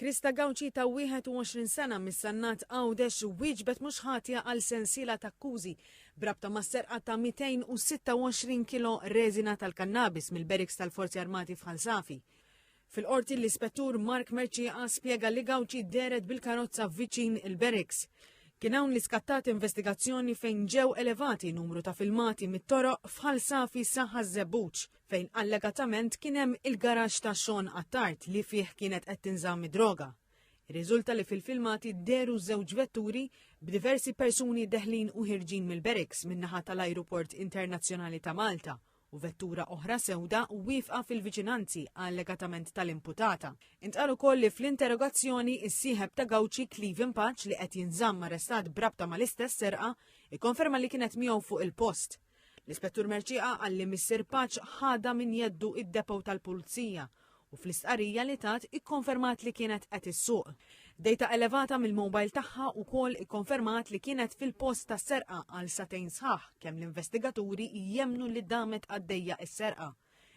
Krista Gauci ta' 21 sena mis-Sannat Għawdex wieġbet mhux ħatja għal sensiela t'akkużi b'rabta mas-serqa ta' 226 kilo reżina tal-kannabis mill-Beriks tal-Forzi Armati f'Ħal Safi. Fil-Qorti l-Ispettur Mark Mercieca spjega li Gauci dehret bil-karozza viċin il-Beriks. Kien hawn li skattat investigazzjoni fejn ġew elevati numru ta' filmati mit-toroq f'Ħal Safi sa Ħaż-Żebbuġ. fejn allegatament kien hemm il-garaxx ta' Sean Attard li fih kienet qed tinżamm id-droga. Irriżulta li fil-filmati dehru żewġ vetturi b'diversi persuni deħlin u ħirġin mill-barracks min-naħa tal-Ajruport Internazzjonali ta' Malta u vettura oħra sewda wieqfa fil-viċinanzi allegatament tal-imputata. Intqal ukoll li fl-interrogazzjoni is-sieħeb ta' Gauci Cleven Paċ li qed jinżamm arrestat b'rabta mal-istess serqa ikkonferma li kienet miegħu fuq il-post. L-Ispettur Merċieqa qal li Missier Paċ ħadha minn jeddu id-depot tal-Pulizija u fl-istqarrija li tat ikkonfermat li kienet qed issuq. Dejta elevata mill-mobile tagħha wkoll ikkonfermat li kienet fil-post tas-serqa għal satejn sħaħ kemm l-investigaturi jemmnu li damet għaddejja s-serqa.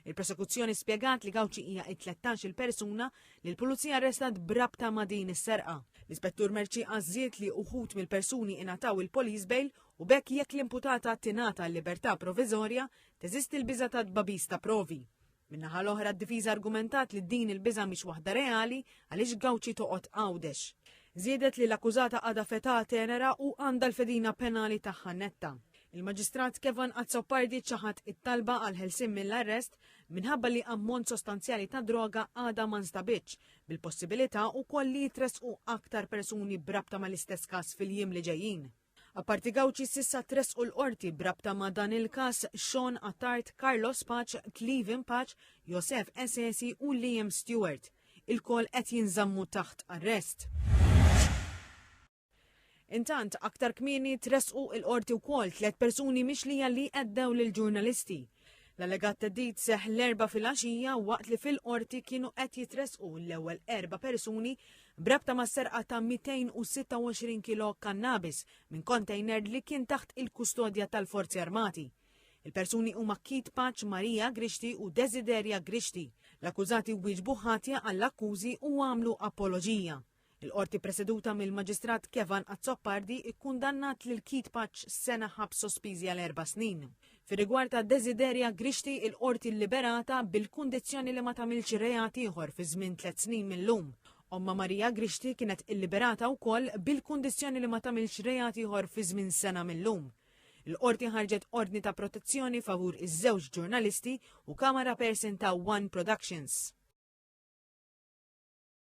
Il-prosekuzzjoni spjegat li Gawċi hija it-13 il-persuna li l-pulizija arrestat brabta ma' din is-serqa. L-Ispettur Merċi għażżiet li uħud mill-persuni ingħataw il-police bail u bekk jekk l-imputata tingħata l-libertà proviżorja teżisti l-biża' ta' tbabis ta' provi. Min-naħa l-oħra d-difiża argumentat li din il-biża' mhix waħda reali għaliex Gawċi toqgħod Għawdex. Żiedet li l-akkużata għadha fetà tenera u għandha l-fedina penali tagħha netta. Il-Maġistrat Kevin Azzopardi ċaħad it-talba għal ħelsien mill-arrest minħabba li ammont sostanzjali ta' droga għadha ma nstabitx, bil-possibilità wkoll li jitressqu aktar persuni brabta mal-istess każ fil-jiem li ġejjin. Apparti Gawċi sissa tres u l-qorti brabta ma' dan il-kas Sean Attard, Carlos Paċ, Cleven Paċ, Josef Esesi u Liam Stewart. Il-kol qed jinżammu taħt arrest. Intant, aktar kmieni tressqu il-Qorti wkoll tliet persuni mixlija li qeddew lill-ġurnalisti. L-allegat theddid seħħ l-Erbgħa filgħaxija waqt li fil-Qorti kienu qed jitressqu l-ewwel erba' persuni b'rabta mas-serqa ta' 226 kilo kannabis minn kontejner li kien taħt il-kustodja tal-Forzi Armati. Il-persuni huma Keith Paċ, Maria Grixti u Desideria Grixti. L-akkużati wieġbu ħatja għall-akkużi u għamlu apoloġija. Il-Qorti preseduta mill-Maġistrat Kevan Azzopardi kkundannat lil Keith Paċ sena ħabs sospiżi għal erba' snin. Fir-rigward ta' Desideria Grixti il-Qorti lliberata bil-kundizzjoni li ma tagħmilx reat ieħor fi żmien tliet snin mil-lum. Ommha Marija Grixti kienet illiberata wkoll bil-kundizzjoni li ma tagħmilx reat ieħor fi żmien sena mil-lum. Il-qorti ħarġet ordni ta' protezzjoni favur iż-żewġ ġurnalisti u kamera person ta' One Productions.